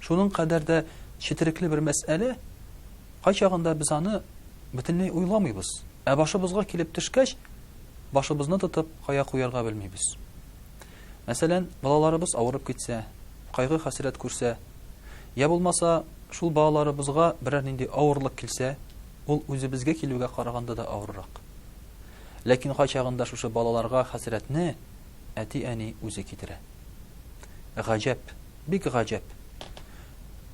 Шуның кадәр дә четерекле бер мәсьәлә, кайчагында без аны бөтенләй уйламыйбыз. Ә башыбызга килеп төшкәч, башыбызны тотып, кая куярга белмибез. Мәсәлән, балаларыбыз авырып китсә, кайгы-хәсрәт күрсә, я булмаса, шул балаларыбызга берәр нинди авырлык килсә, ул үзебезгә килүгә караганда да авыррак. Ләкин кайчагында шушы балаларга хәсрәтне әти-әни үзе китерә. Гаҗәп, Бик гаҗәп.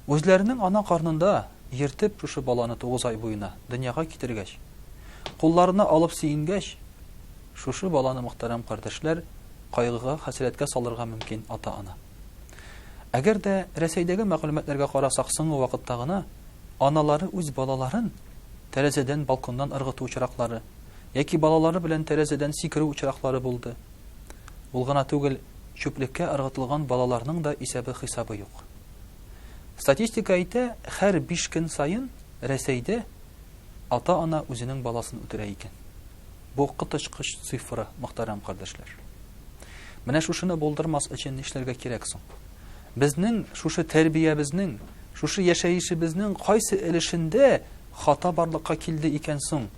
Үзләренең ана карнында йөртеп шушы баланы тугыз ай буена дөньяга китергәч, кулларына алып сөенгәч, шушы баланы мөхтәрәм кардәшләр кайгыга, хәсрәткә салырга мөмкин ата-ана. Әгәр дә Рәсәйдәге мәгълүматларга карасак соңгы вакытта гына аналары үз балаларын тәрәзәдән, балконнан ыргыту очраклары яки балалары белән тәрәзәдән сикерү очраклары булды. Ул гына түгел, чүплеккә ыргытылган балаларның да исәбе-хисабы юк. Статистика әйтә, хәр биш көн саен Рәсәйдә ата-ана үзенең баласын үтерә икән. Бу коточкыч цифра, мөхтәрәм кардәшләр. Менә шушыны булдырмас өчен нишләргә кирәк соң? Безнең шушы тәрбиябезнең, шушы яшәешебезнең кайсы өлешендә хата барлыкка килде икән соң,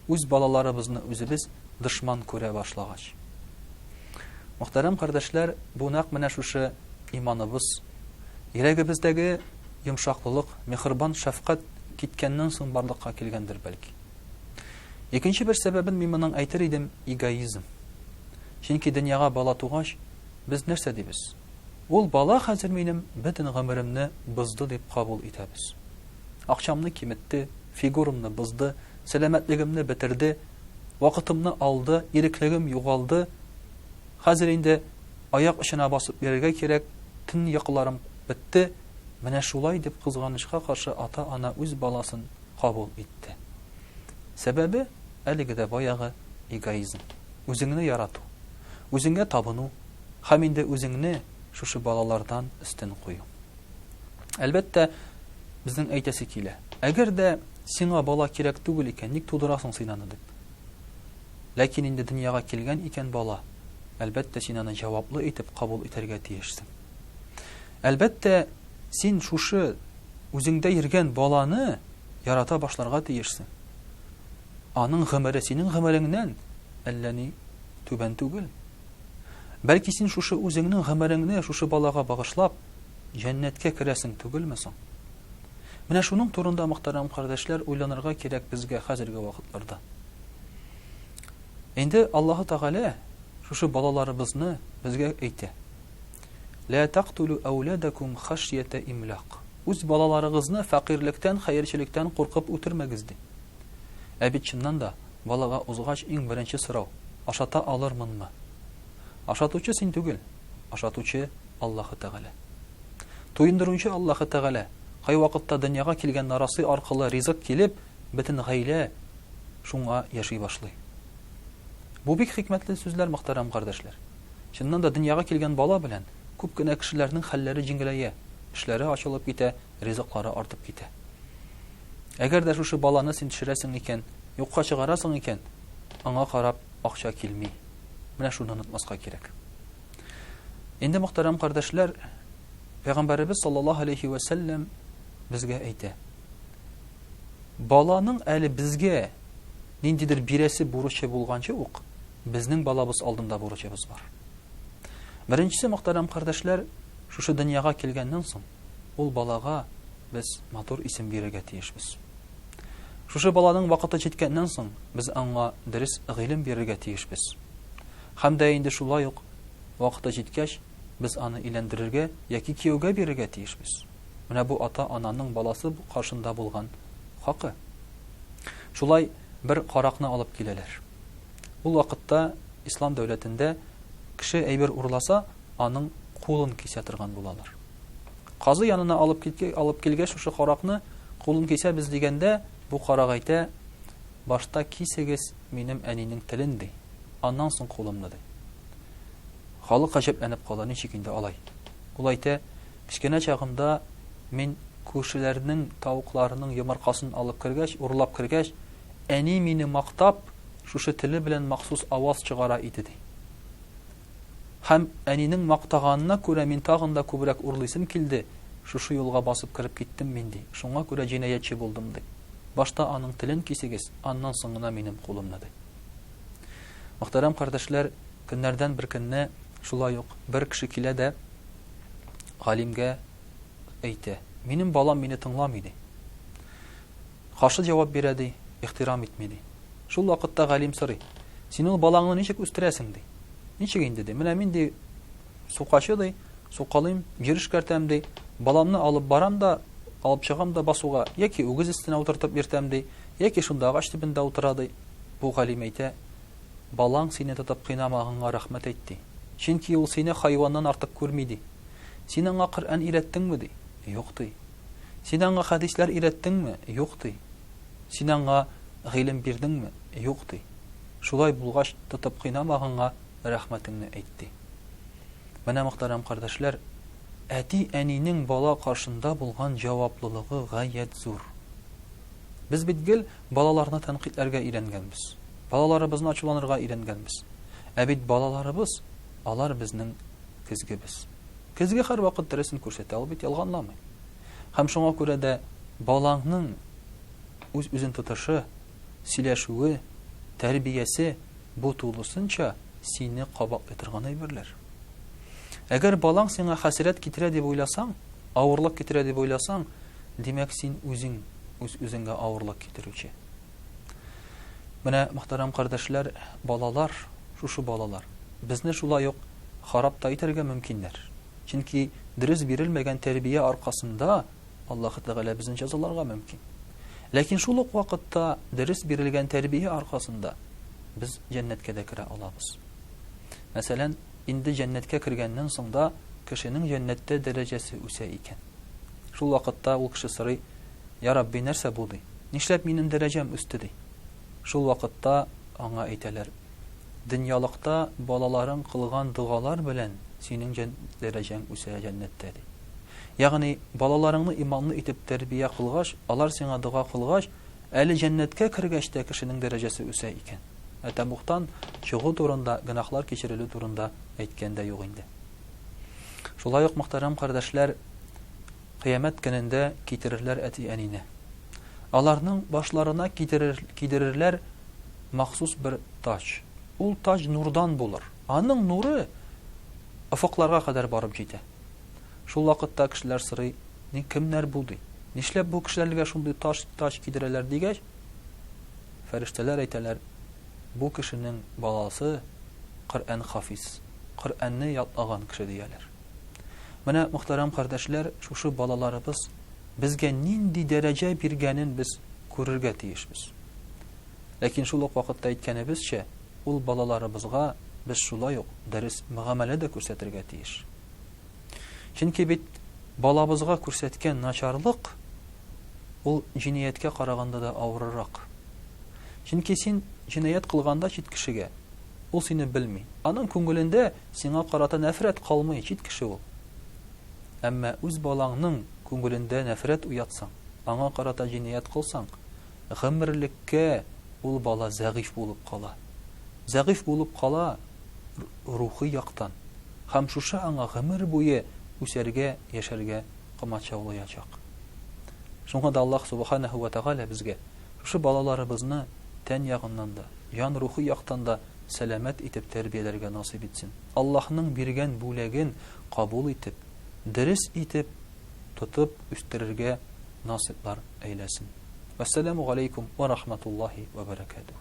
үз балаларыбызны үзебез дошман күрә башлагач. Мөхтәрәм кардәшләр, бу нәкъ менә шушы иманыбыз, йөрәгебездәге йомшаклылык, мехрибан шәфкать киткәннән соң барлыкка килгәндер бәлки. Икенче бер сәбәбен мин моның әйтер идем, эгоизм. Чөнки дөньяга бала тугач, без нәрсә дибез? Ул бала хәзер минем бөтен гомеремне бозды дип кабул итәбез. Акчамны киметте, фигурамны бозды, сәламәтлегемне бетерде, Вакытымны алды, иреклегем югалды. Хәзер инде аяк очына басып йөрергә кирәк, төн йокыларым бетте. Менә шулай дип кызганычка каршы ата-ана үз баласын кабул итте. Сәбәбе, әлеге дә баягы эгоизм. Үзеңне ярату, үзеңә табыну һәм инде үзеңне шушы балалардан өстен кую. Әлбәттә, безнең әйтәсе килә. Әгәр дә сиңа бала кирәк түгел икән, ник тудырасың син аны дип. Ләкин инде дөньяга килгән икән бала, әлбәттә, син аны җаваплы итеп кабул итәргә тиешсең. Әлбәттә, син шушы үзеңдә йөргән баланы ярата башларга тиешсең. Аның гомере синең гомереңнән әллә ни түбән түгел. Бәлки син шушы үзеңнең гомереңне шушы балага багышлап, җәннәткә керәсең түгелме соң? Менә шуның турында, мөхтәрәм кардәшләр, уйланырга кирәк безгә хәзерге вакытларда. Инде Аллаһу Тәгалә шушы балаларыбызны безгә әйтә. Лә тактулу әүләдәкум хашьята имлак. Үз балаларыгызны фәкыйрьлектән, хәерчелектән куркып үтермәгез ди. Ә бит чыннан да Балага узгач иң беренче сорау, Ашата алырмынмы? Ашатучы син түгел, ашатучы, Аллаһы Тәгалә. Туендыручы Аллаһы Тәгалә. Кайвакытта дөньяга килгән нарасый аркылы ризык килеп, бөтен гаилә шуңа яши башлый. Бу бик хикмәтле сүзләр, мөхтәрәм кардәшләр. Чыннан да, дөньяга килгән бала белән күп кенә кешеләрнең хәлләре җиңеләя, эшләре ачылып китә, ризыклары артып китә. Әгәр дә шушы баланы син төшерәсең икән, юкка чыгарасың икән, аңа карап акча килми. Менә шуны онытмаска кирәк. Инде мөхтәрәм кардәшләр, Пәйгамбәребез саллаллаһу алейхи ва сәлләм безгә әйтә. Баланың әле безгә ниндидер бирәсе бурычы булганчы ук, безнең балабыз алдында бурычыбыз бар. Беренчесе мөхтәрәм кардәшләр, шушы дөньяга килгәннән соң, Ул балага без матур исем бирергә тиешбез. Шушы баланың вакыты җиткәннән соң, без аңа дөрес гыйлем бирергә тиешбез. Хәм дә инде шулай ук вакыты җиткәч, без аны иләндерергә яки кияүгә бирергә тиешбез. Менә бу ата-ананың баласы каршында булган хакы. Шулай бер каракны алып киләләр. Ул вакытта ислам дәүләтендә кеше әйбер урласа, аның кулын кисә торган булалар. Казый янына алып кит, алып килгәч, шушы каракны кулын кисәбез дигәндә, бу карак әйтә, башта кисегез минем әнинең телен ди, аннан соң кулымны ди. Халык гаҗәпләнеп кала, ничек инде алай? Ул әйтә, кечкенә чагымда мин күршеләрнең тавыкларының йомыркасын алып кергәч, урлап кергәч, әни мине мактап, шушы теле белән махсус аваз чыгара иде ди. Һәм, әнинең мактаганына күрә, мин тагын да күбрәк урлыйсым килде, шушы юлга басып кереп киттем мин, ди, шуңа күрә җинаятьче булдым, ди. Башта аның телен кисегез, аннан соң гына минем кулымны, ди. Мөхтәрәм кардәшләр, көннәрдән бер көнне шулай ук бер кеше килә дә галимгә әйтә, Минем балам мине тыңламый, ди. Каршы җавап бирә, ди, ихтирам итми, ди. Шул вакытта галим сорый, Син ул балаңны ничек үстерәсең? ди. Ничек инде, ди, менә мин, ди, сукачы, ди, сукалыйм, җир эшкәртәм, ди, баламны алып барам да, алып чыгам да басуга, яки үгез өстенә утыртып йөртәм, ди, яки шунда агач төбендә утыра, ди. Бу галим әйтә, Балаң сине тотып кыйнамаганга рәхмәт әйт, ди. Чөнки ул сине хайваннан артык күрми, ди. Син аңа Коръән өйрәттеңме? ди. Юк, ди. Син аңа хәдисләр өйрәттеңме? Юк, ди. Син аңа гыйлем бирдеңме? Юк, ди. Шулай булгач, тотып кыйнамаганга рәхмәтеңне әйт, ди. Менә, мөхтәрәм кардәшләр, әти-әнинең бала каршында булган җаваплылыгы гаять зур. Без бит гел балаларны тәнкыйтьләргә өйрәнгәнбез. Балаларыбызны ачуланырга өйрәнгәнбез. Ә бит балаларыбыз, алар безнең көзгебез. Көзге һәрвакыт дөресен күрсәтә, ул бит ялганламый. Һәм шуңа күрә дә балаңның үз-үзен тотышы, сөйләшүе, тәрбиясе бу тулысынча сине кабатлый торган әйберләр. Әгәр балаң сиңа хәсрәт китерә дип уйласаң, авырлык китерә дип уйласаң, димәк син үзең үз-үзеңгә авырлык китерүче. Менә, мөхтәрәм кардәшләр, балалар, шушы балалар, безне шулай ук харап та итәргә мөмкиннәр. Чөнки дөрес бирелмәгән тәрбия аркасында Аллаһы Тәгалә безне җәзаларга мөмкин. Ләкин шул ук вакытта дөрес бирелгән тәрбия аркасында без җәннәткә дә керә алабыз. Мәсәлән, инде җәннәткә кергәннән соң да кешенең җәннәттә дәрәҗәсе үсә икән. Шул вакытта ул кеше сорый, Я Рабби, нәрсә бу, ди. Нишләп минем дәрәҗәм үсте, ди. Шул вакытта аңа әйтәләр, Дөньялыкта балаларың кылган догалар белән синең дәрәҗәң үсә җәннәттә, ди. Ягъни, балаларыңны иманлы итеп тәрбия кылгач, алар сиңа дога кылгач, әле җәннәткә кергәч тә кешенең дәрәҗәсе үсә икән. Ә тәмугтан чыгу турында, гөнаһлар кичерелү турында әйткән дә юк инде. Шулай ук, мөхтәрәм кардәшләр, Кыямәт көнендә китерерләр әти-әнине. Аларның башларына кидерер, кидерерләр махсус бер таҗ. Ул таҗ нурдан булыр. Аның нуры офыкларга кадәр барып җитә. Шул вакытта кешеләр сорый, Ни кемнәр бу ди? Нишләп бу кешеләргә шундый таҗ, таҗ кидерәләр дигәч, фәрештәләр әйтәләр, Бу кешенең баласы Коръән хафиз, Коръәнне ятлаган кеше дияләр. Менә, мөхтәрәм кардәшләр, шушы балаларыбыз безгә нинди дәрәҗә биргәнен без күрергә тиешбез. Ләкин шул ук вакытта әйткәнебезчә, ул балаларыбызга без шулай ук дөрес мөгамәлә дә күрсәтергә тиеш. Чөнки бит балабызга күрсәткән начарлык ул җинияткә караганда да авырырак. Чөнки син җинаять кылганда чит кешегә, ул сине белми. Аның күңелендә Сиңа карата нәфрәт калмый, чит кеше ул. Әмма үз балаңның күңелендә нәфрәт уятсаң, аңа карата җинаять кылсаң, гомерлеккә ул бала зәгыйфь булып кала. Зәгыйфь булып кала рухи яктан һәм шушы аңа гомер буе үсәргә, яшәргә комачаулаячак. Шуңа да Аллаһ Субханәһү вә Тәгалә безгә шушы балаларыбызны тән ягыннан да, җан-рухи яктан да сәламәт итеп тәрбияләргә насыйп итсен. Аллаһның биргән бүләген кабул итеп, дөрес итеп тотып үстерергә насыйплар әйләсен. Вәссәламү галәйкүм вә рахматуллаһи вә бәрәкәтүһ.